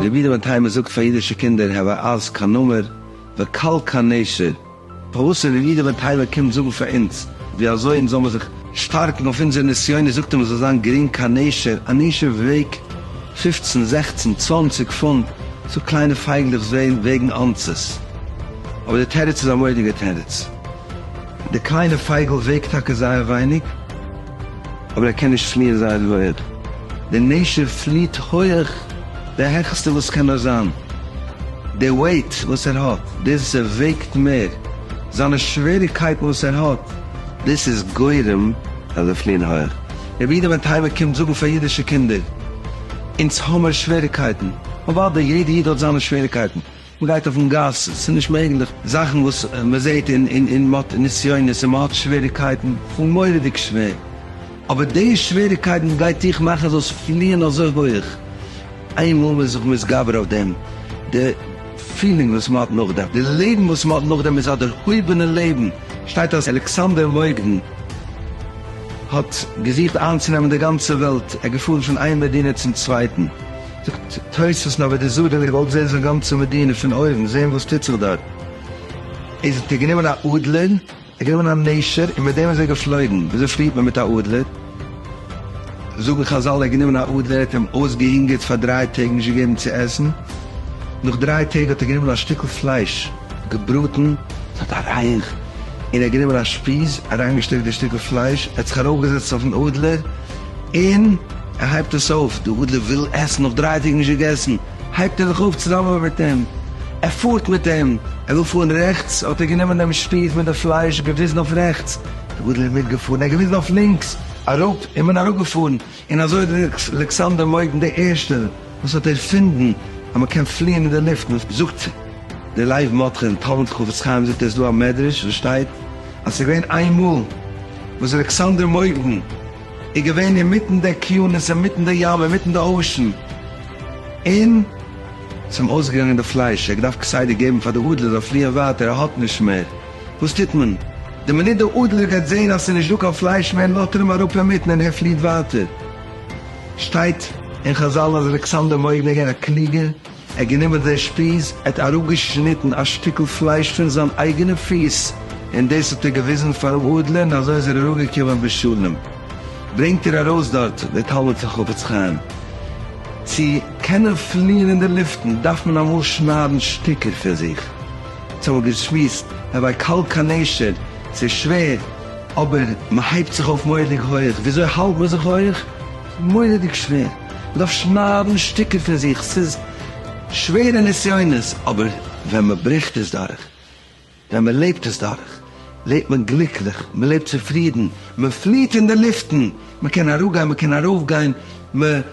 רבי דוד היימער זאגט פאר אידישע קינדער הוה אז קיין נמר וקל קיין נשר. פארוואס איז רבי דוד היימער קומט זאגן פאר אונז ווי אזוי אונז זאל מיר זיך שטארקן אויף אונזער נסיונות זאגט ער מען זאל זיין גרינג קיין נשר, א נשר וועגט פֿופֿצן זעכצן צוואַנציק פונט, סאו קליינע פייגלעך וועגן אנסעס. אבער די תירוץ איז א מוראדיגע תירוץ. די קליינע פייגל וועגט טאקע זייער ווייניג, אבער ער קען נישט פליען זייער הויעך. די נשר פליעט הויעך די העכסטע וואס קען נאר זיין. די וועיט וואס ער האט, דאס ער וועגט מער, זיינע שוועריגקייטן וואס ער האט, דאס איז גורם אז זיי פליען הויעך. רבי איד מטייבה קומט זאגן פאר אידישע קינדער, אונז האמיר שוועריגקייטן. אוודאי, יעדע איד האט זיינע שוועריגקייטן. מען גייט אויפן גאס, ס'איז נישט מעגליך, זאכן וואס מען זעט און און מען האט נסיונות און מען האט שוועריקייטן, פון מורא'דיג שווער, אבער די שוועריקייטן גייט דיך מאכן זאלסט פליען אזוי הויך, איינמאל מען איז זיך מתגבר אויף דעם, די פילינג וואס מען האט נאכדעם, די לעבן וואס מען האט נאכדעם איז א דערהויבענע לעבן, שטייט אז אלכסנדר מוקדון האט געזוכט איינצונעמען די גאנצע וועלט, ער איז געפארן פון איין מדינה צום צווייטן. זאגט תוספות נאר ווען די זאדעלע וואלט זעהן זיין גאנצע מדינה פון אויבן זעהן וואס טוט זיך דארט איז ער גענומען א אדלער ער גענומען א נשר און מיט דעם איז ער געפלויגן וויאזוי פליט מען מיט א אדלער זאגן חזל ער האט גענומען א אדלער ער האט אים אויסגעהונגערט פאר דריי טעג נישט געגעבן צו עסן נאך דריי טעג האט ער גענומען א שטיקל פלייש געבראטן עס האט אריין און ער האט גענומען א שפיז אריינגעשטעקט די שטיקל פלייש ער האט זיך ארויפגעזעצט אויפן אדלער. און ער הייבט עס אויף, די אדלער וויל עסן, נאך דריי טעג נישט געגעסן, הייבט ער זיך אויף צוזאמען מיט אים, ער פארט מיט אים, ער וויל פארן רעכטס, האט ער גענומען דעם שפיז מיט די פלייש, געוויזן אויף רעכטס, די אדלער מיטגעפארן, ער האט געוויזן אויף לינקס, אראפ, און מען אראפגעפארן, און אזוי האט אלכסנדר מויגן דער ערשטער. וואס האט ערפינדן אז מען קען פליען אין די לופט, און זאגט די לייוו מאטכע אין תלמוד חפץ חיים זאגט ער איז דא א מדרש וואס שטייט אז ס'איז געווען איין מאל וואס אלכסנדר מוקדון איז געווען אינמיטן די אקיינוס אינמיטן די ים אינמיטן די אושען און ס'איז אים אויסגעגאנגען די פלייש ער האט געדארפט כסדר געבן פאר די אדלער זאל פליען ווייטער ער האט נישט מער וואס טוט מען די מינוט די אדלער גייט זעהן אז ס'איז נישט דא קיין פלייש מער לאזט ער אים אראפ אינמיטן און ער פליעט ווייטער. שטייט אין חזל אז אלכסנדר מורד ווען געווען א קלוגער, ער האט גענומען זיין שפיז, ער האט אראפגעשניטן א שטיקל פלייש פון זיין אייגענע פיס, און דאס האט ער געוויזן פארן אדלער און אזוי איז ער אראפגעקומען בשלום. ברענגט ער ארויס דארט דער תלמיד פון חפץ חיים, צו קענען פליען אין די לופטן דארף מען אמאל שניידן שטיקער פון זיך, אונז האבן געשמועסט, רבי קאלקאנעשער, ס'איז שווער, אבער מען הייבט זיך אויף מורא'דיג הויעך, וויאזוי האלט מען זיך הויעך? ס'איז מורא'דיג שווער, מען דארף שניידן שטיקער פון זיך, ס'איז שווערע נסיונות, אבער ווען מען ברעכט עס דורך, ווען מען לעבט עס דורך, לעבט מען גליקליך, מען לעבט צופרידן, מען פליעט אין די לופטן, מען קען אראפגיין, מען קען ארויפגיין, מען.